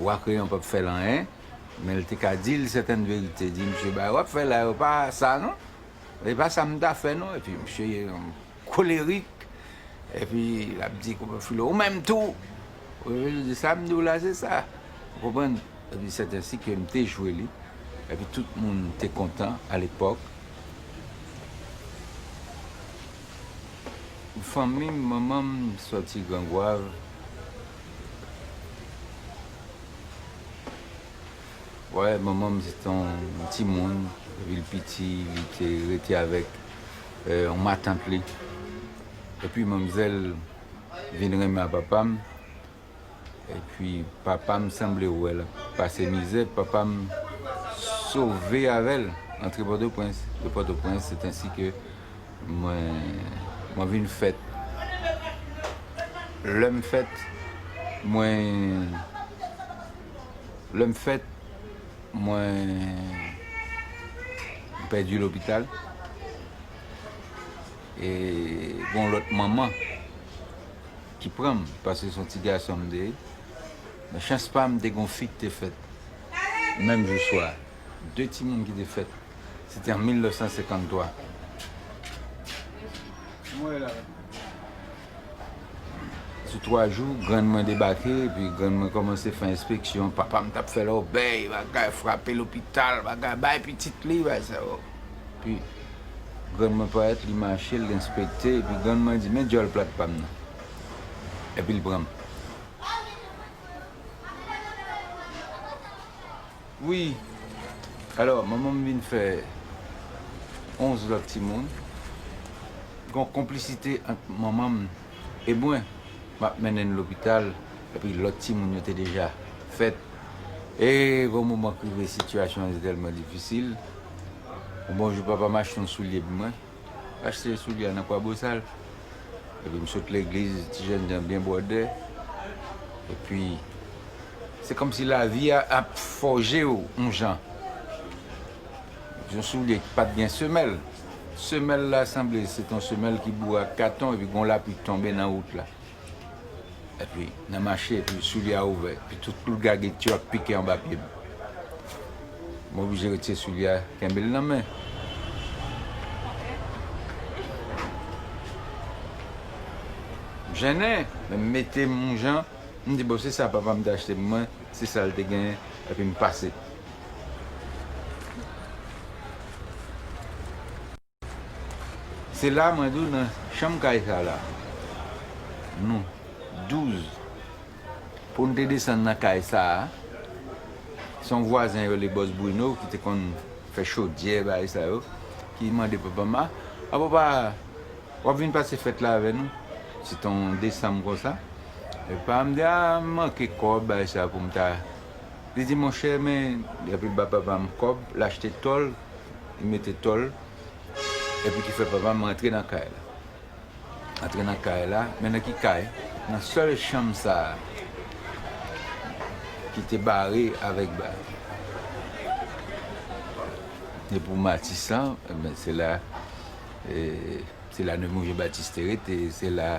Wa Kreyon pap fè l anyen, men l te ka di l sèten verite, di, Msye, bagay w ap fè la yo pa sa non, e pa sa m ta fè non. Epi msye kolerik, epi l ap di Koupè Filo, ou menm tou! Koupè Filo di, sa m di w la se sa. Ou konprann? Epi sètensi ke m te jwe li, epi tout moun te kontan alepòk. Fanmi m, manman m sòti Gran Gwav. Wè manman m se te yon ti moun depi l piti li te rete avèk yon matant li epi manmzèl vin renmen a papa m epi papa m sanble wè l ap pase mizè papa m sove avè l antre pòtoprens de pòtoprens se tansi ke Mwen Mwen vin fèt Lè m fèt Mwen Lè m fèt Mwen M pèdi lopital E gon lòt manman Ki pran m Pase son ti gason m te ye Men chans pa m te gon fi ki te fèt Menm jou swa 2 timoun ki te fèt. Se te an 1953. Sou 3 jou, grann mwen debake, epi grann mwen kòmanse fè enspeksyon. Papa m t ap fè lòbèy, bagay, frape lopital, bagay, bay pitit li, bay sa yo. Epi, grann mwen parèt, li mache, l enspekte, epi grann mwen di, Men djòl plat pa m nan. Epi l pran m. Wi alò manman m vin fè 11 lòt timoun, gon konplisite ant manman m e mwen, map mennen n lopital epi lòt timoun yo te deja fèt e gon moman k rive sitiyasyon an te tèlman difisil, yon bon jou papa m achte yon soulye pou mwen. Achte soulye a nan Kwabosal. Epi m sot legliz ti jèn jan byen bwòdè. Epi se kòmsi lavi a ap fòje w yon jan. Yon soulye ki pa t gen semèl. Semèl la sanble se t yon semèl ki boure ak katon epi gen yon lapli k tonbe nan wout la. Epi nan mache, epi soulye a ouvè, epi tout klou gagit yo ap pike anba pye m. M oblije retire soulye a, kenbe l nan men. M jennen, men m mete m yon jan, m di bon se sa papa m te achte pou mwen, se sa l te genyen, epi m pase. Se la mwen di w nan chanm kay sa la, nou 12 pou n te desann nan kay sa a, se yon vwazen yo rele Bòs Brino ki te konn fè chodyè bagay sa yo, ki mande papa m a, a papa w ap vin pase fèt la avè nou? Se te yon desanm konsa, epi papa m di a m manke kòb bagay sa pou m ta, li di monchè men, epi l ba papa m kòb, l achte tòl. li mete tòl, epi ki fè papa m rantre nan kay la. Antre nan kay la, men nan ki kay? Nan sèl chanm sa a ki te bare avèk ba. E pou Matisan, se la Nemours Jean-Baptiste te rete, se la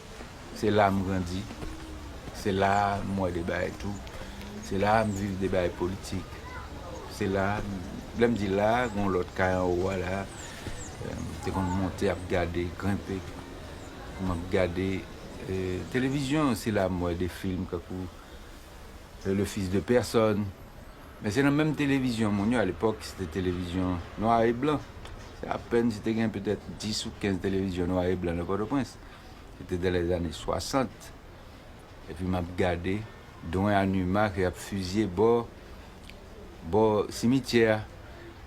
Se la m grandi, se la a m wè de bagay tou, se la a m viv de bagay politik, se la a, lè m di la a, gen yon lòt kay anwo a la a, m te konn monte ap gade, grenpe, m ap gade televizyon, se la a m wè de film tankou Le fils de personne, men se nan menm televizyon moun yo, alepòk se te televizyon nwa e blan, se apèn si te gen petèt 10 ou 15 televizyon nwa e blan nan Pòtoprens. Se te dan lè ane 60, epi map gade Don Anima ke yap fizye bò bò simityè a.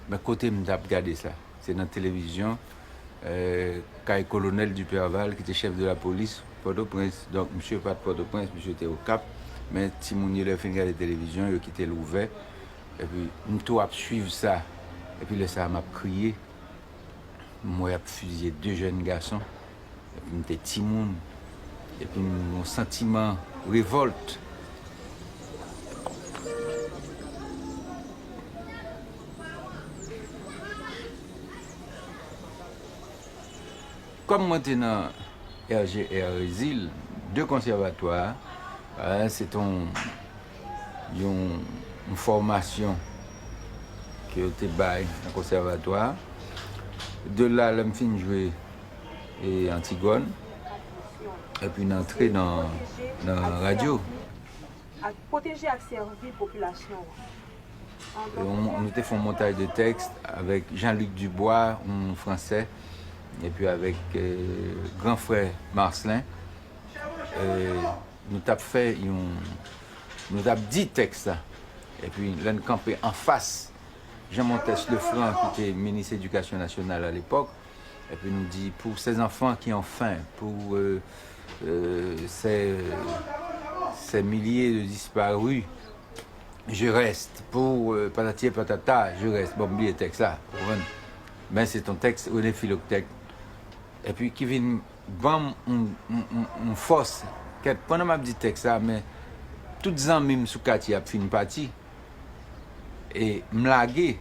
Men kote m tap gade sa? Se nan televizyon kay Kolonèl Duperval ki te chèf de lapolis Pòtoprens. Donk misye pat Pòtoprens, misye te Okap. Men timoun yo lè yo fin gade televizyon, yo kite l ouvè. Epi m tou ap swiv sa. Epi lè sa a map kriye. m wè yap fizye 2 jèn gason epi m te timoun epi m gon santiman revolt. Kòm mwen te nan RGR Rezil 2 konsèvatwa a se te yon. yon fòmasyon ke yo te bay nan konsèvatwa a. De la, lè m fin jwe Antigòn, epi m antre nan radyo. Nou te fè yon montaj de tèks avèk Jean-Luc Dubois, yon Fransè, epi avèk gran frè Marcelin. Nou t ap fè yon. Nou t ap di tèks la. Epi, lè n kanpe anfas Jean Montes Lefranc ki te minis edikasyon nasyonal alepòk, epi nou di, Pour ces enfants qui ont faim, pour ces milliers de disparus, je reste, pour patati et patata, je reste. Bon, m bliye tèks la, ou konprann. Men se t on tèks René Philoctète, epi ki vin Banm yon fòs kèt pandan map di tèks la men tout zanmim sou katye ap fin pati e m lage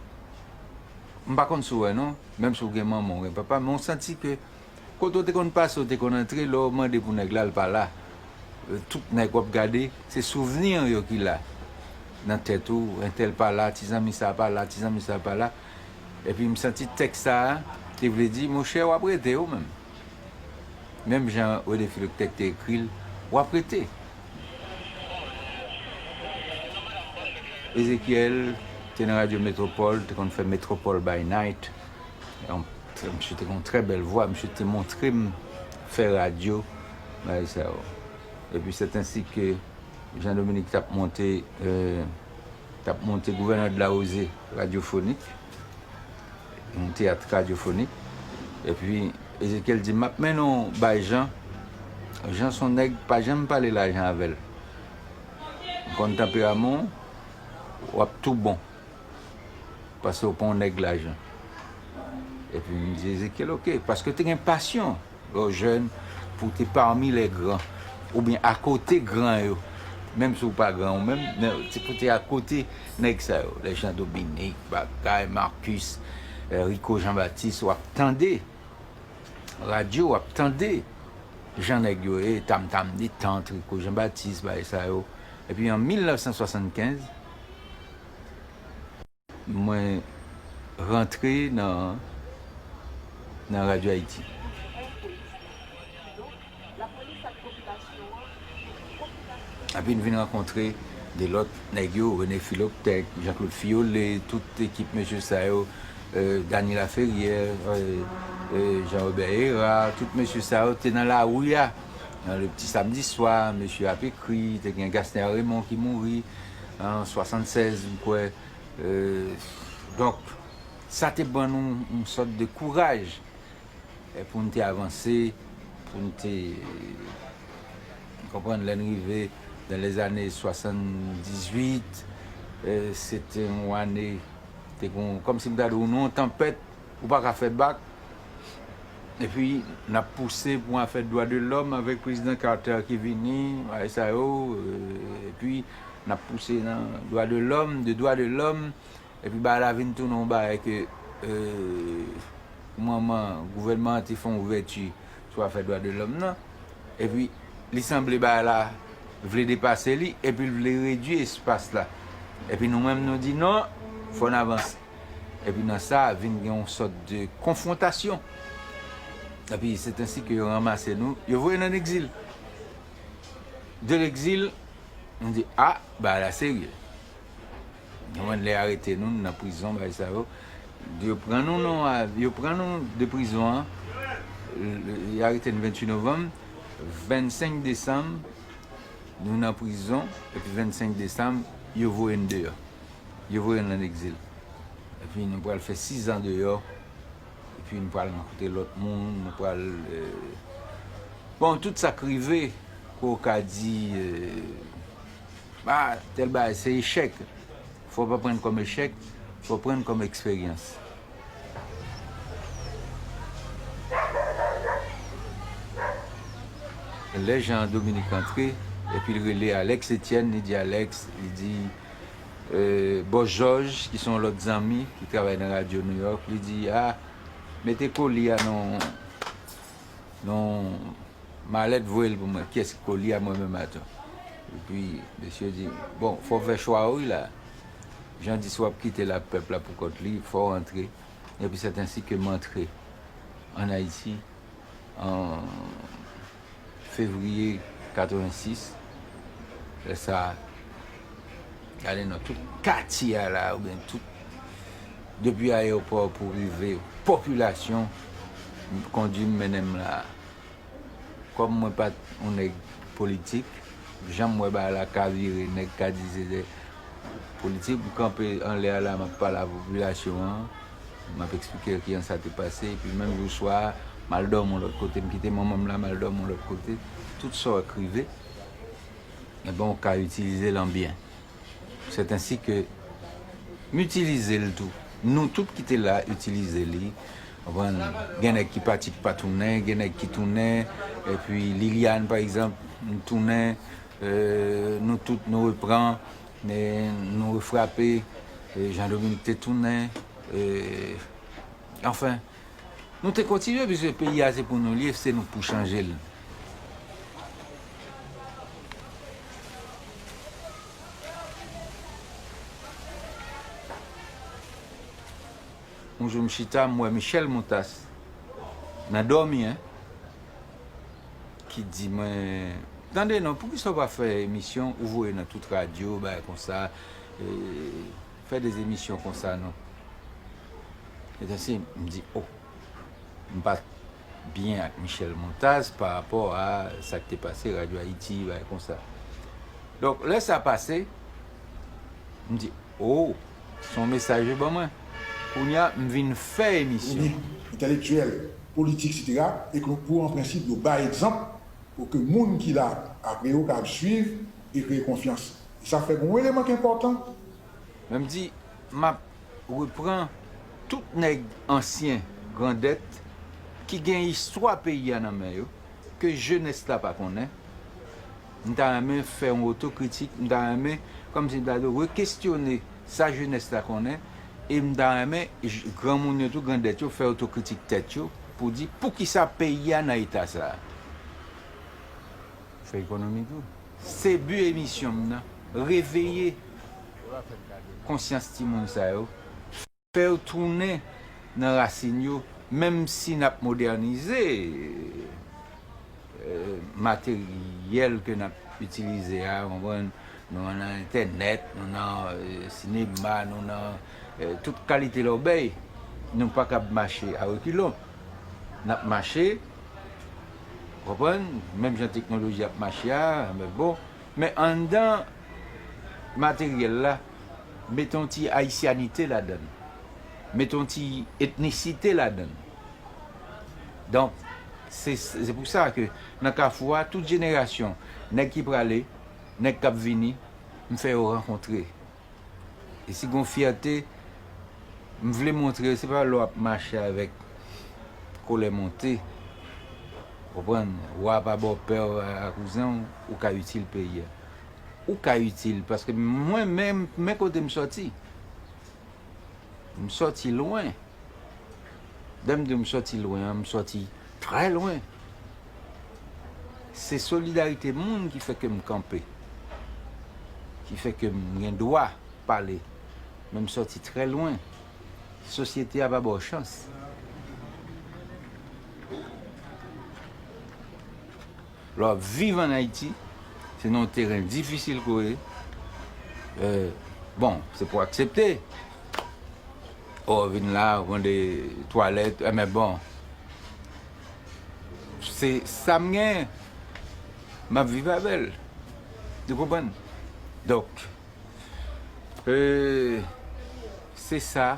m pa konn si w wè non menm si w gen manman w gen papa men w santi ke kote w te konn pase w te konn antre lè w mande pou nèg la l pa la tout nèg wap gade se souvni yo ki la nan tèt ou entèl pa la ti zanmi sa pa la ti zanmi sa pa la epi m santi tèks sa te vle di monchè wap rete w menm. Menm jan René Philoctèque te ekri l, w ap rete. Ezekyèl te nan radyo Metropole, l te konn fè Metropole by Night. Misye te gen yon trè bèl vwa. Misye te montre m fè radyo, bagay sa yo. Epi sèt ensi ke Jean Dominique t ap monte, t ap monte Gouvènè Delaroze, Radyofonik. Yon teyat radyofonik. Epi, Ezekyèl di, M ap mennen w bay Jan. Jan s on nèg, pa janm pale lajan avè l. M konn tanperaman w, w ap tou bon. Pase w pa w nèg lajan. Epi, m di Ezekyèl, Oke. Paske te gen pasyon. Lè w jèn, pou w te pami lè gran, oubyen akote gran yo, menm si w pa gran ou menm, men se pou w te akote nèg sa yo, lè Jan Dominik, bagay, Marcus, Rico Jean Baptiste, w ap tande radyo, w ap tande jan nèg yo ye, tam tam detant, Rico Jean Baptiste, bagay sa yo, epi an 1975. Mwen rantre nan Radio Haiti. Api m vin rankontre de lòt nèg yo, René Philoptèque, Jean Claude Fiolet, tout ekip mesye sa yo, Dany Laferrière, Jean Robert Herard, tout mesye sa yo te nan lari a, nan le petit samedi soir, mesye ap ekri, te gen Gasner Raymond ki mouri. an 76 m kwè donk sa te ban nou yon sòt de kouraj pou n te avanse pou n te konprann lè n rive dan lè zane 78 se te yon ane te gen yon kòm si m ta di w nou yon tanpèt. Ou pa ka fè bak, epi nap pouse pou afè dwa de lòm avèk prezidan Carter ki vini, bagay sa yo, epi nap pouse nan dwa de lòm, de dwa de lòm, epi bagay la vin tounen yon bagay ke manman gouvènman an te fè yon ouvèti sou afè dwa de lòm nan, epi li sanble bagay la vle depase li, epi l vle redui espas la, epi nou menm nou di non, fò n avanse. Epi nan sa vin gen yon sòt de konfwontasyon. Epi c'est ainsi que yo ranmase nou, yo voye n an egzil. De l'exil, nou di a, bagay la serye. Nou konprann lè y arete nou, nou nan prizon bagay sa yo, yo pran nou nan, yo pran nou de prizon an, y arete n 28 novanm, 25 desanm nou nan prizon, epi 25 desanm yo voye n deyò. Yo voye n an egzil. Epi nou pral fè sizan deyò. Epi nou pral rankontre lòt moun. Nou pral. Bon, tout sa k rive, ke w ka di, A, tèl bagay se echèk. Fò w pa pran l kòm echèk, fò w pran l kòm eksperyans. Lè Jan Dominik antre, epi l rele Alèks Etyèn, li di Alèks, li di. Bòs Jòj ki se yon lòt zanmi ki travay nan radyo Nouyòk, li di, a, mete koli a nan yon malèt voye l pou mwen. Ki èski koli a? Mwen menm ato. Epi, mesye yo di, bon, fò w fè chwa w wi la. Jan di si w ap kite l ak pèp la poukont li, fò w antre. Epi, sèt ansi ke m antre ann Ayiti. an fevriye 86, lè sa a, gade nan tout katye a la oubyen tout, depi ayewopò pou rive popilasyon, m kondi m mennen m la a. Kòm mwen pa t yon nèg politik, jan m wè bagay la ka vire, nèg ka di se politik, m kanpe anlè a la m ap pale a popilasyon an. M ap eksplike ki jan sa te pase. Epi menm jou swa a, m al dòmi yon lòt kote. M kite manman m la, m al dòmi yon lòt kote. Tout sa w ekrive, enben ou ka itilize l an byen. Sèt ansi ke m itilize l tou. Nou tout ki te la itilize li. Konprann? Gen nèg ki pati ki pa tounen, gen nèg ki tounen. Epi Liliane, pa egzanp, li tounen. Nou tout nou repran. Men nou refrape, Jean Dominique te tounen, anfen, nou te kontinye piske peyi a se pou nou li ye, se nou k pou chanje l. Yon jou m chita m wè Michèle Montas nan dòmi hein. ki di mwen tande non poukisa ou pa fè emisyon ou voye nan tout radyo bagay konsa fè de emisyon konsa non etansim m di oh m pat byen ak Michèle Montaz pa rapò a sa k te pase radyo ayiti bagay konsa donk lè sa pase m di oh son mesaj yo ban mwen kounya m vin fè emisyon. Ou di entèlektyèl politik sitera e ke pou an prensip yo bay egzanp pou ke moun ki la apre yo kapab swiv e kreye konfyans. E sa fè gen yon eleman ki enpòtan. Men m di, m ap repran tout nèg ansyen grandèt ki gen istwa peyi a nan men yo ke jenès la pa konnen, M ta renmen fè yon otokritik, m ta renmen, kòm si m ta dwe rekestyone sa jenès la konnen e m ta renmen granmoun yo tou, grandèt yo fè otokritik tèt yo pou di poukisa peyi a nan eta sa a. M fè ekonomi tou. Se bi emisyon m nan, reveye konsyans timoun sa yo. Fèw tounen nan rasin yo menm si nap modènize materyèl ke nap itilize a konprann nou nan entènèt nou nan sinema nou nan tout kalite lòbèy nou pakab mache a rekilon nap mache konprann menm jan teknoloji ap mache a men bon men anndan materyèl la mete yon ti ayisyanite ladan l, mete yon ti etnisite ladan l. Donk, se pou sa ke nan Kafou a, tout jenerasyon, nèg ki prale, nèg k ap vini, m fè yo rankontre. E si gen yon fyète, m vle montre, se pa lè w ap mache avèk kolè monte, w konprann, wa pa bòpè w, wa pa kouzen w, ou ka itil peyi a. ou ka itil paske mwen menm men kote m sòti m sòti lwen lè m diw m sòti lwen an m sòti trè lwen se solidarite moun ki fè ke m kanpe ki fè ke m gen dwa pale men m sòti trè lwen sosyete a pa baw chans. Lè w ap viv an Ayiti, se nan yon teren difisil ke w ye, bon, se pou w aksepte, o vin la, ou mande twalèt, men bon, se sa m gen, m ap viv avè l, nou konprann? Donk, se sa.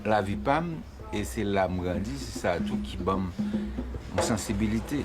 Lavi pa m e se la m grandi, se sa tou ki ban m yon sansibilite.